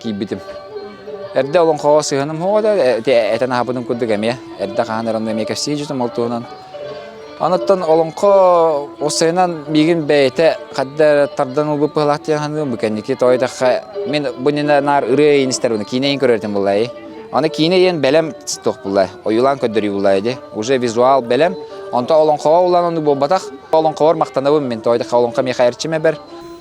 киирбитим. Эрдэ олоҥхоҕо сыһыаным хоҕо да этэн аһаппытым курдук эмиэ. Эрдэ хаһан эрэ онно эмиэ кэпсии дьутум ол туһунан. Оныттан олоҥхо уссайынан миигин бэйэтэ хадда тардан ылбыт быһылаах диэн саныыбын бу кэнники тоойдахха мин бу нина наар ырыа иин истэр уну киинэ иин көрөр этим буллай. Аны киинэ иэн бэлэм туох буллай ойулаан көрдөрүү буллай ди уже визуал бэлэм онто олоҥхоҕо улаан ону буолбатах олоҥхоҕор махтанабын мин тоойдахха олоҥхо миэхэ эрчимэ бэр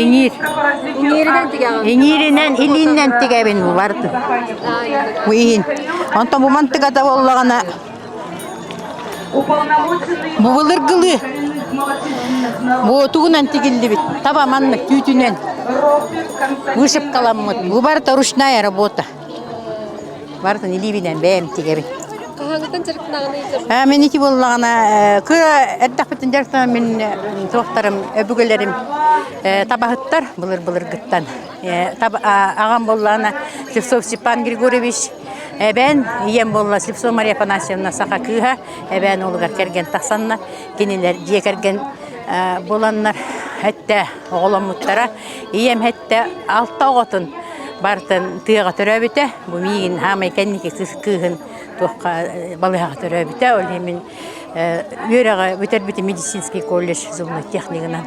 Иҥиир. Иҥииринэн, илииннэн тигэбин бу Бу иһин. Онтон бу мантыгата буоллаҕына бу былыргылыы. Бу тугунан тигиллибит? Таба маннык түүтүнэн. Вышивкаламмыт. Бу барыта ручная работа. Барытын илиибинэн бэйэм тигэбин. Хаһааҥҥытын дьарыктааҕын ыйдырбыт? Э, Мин ити буоллаҕына э, кыра эрдэхпитин дьарыктанан мин э, туохтарым өбүгэлэрим э, табаһыттар былыр-былыргыттан. Э, таба- а- Аҕам буоллаҕына Слепцов Степан Григорьевич, эбээн ийэм буолла Слепцова Мария Афанасьевна саха кыыһа, эбээн уолугар кэргэн тахсаннар, кинилэр дьиэ кэргэн э, буланнар, эттэ оҕоломмуттара. Ийэм алта оҕотун барытын тыаҕа төрөөбүтэ. Бу миигин хаамай кэнники сыс кыыһын туохха балыһаҕа төрөөбүтэ. Ол иһин мин үөрэҕи бүтэрбитим медицинский колледж зубной технигынан.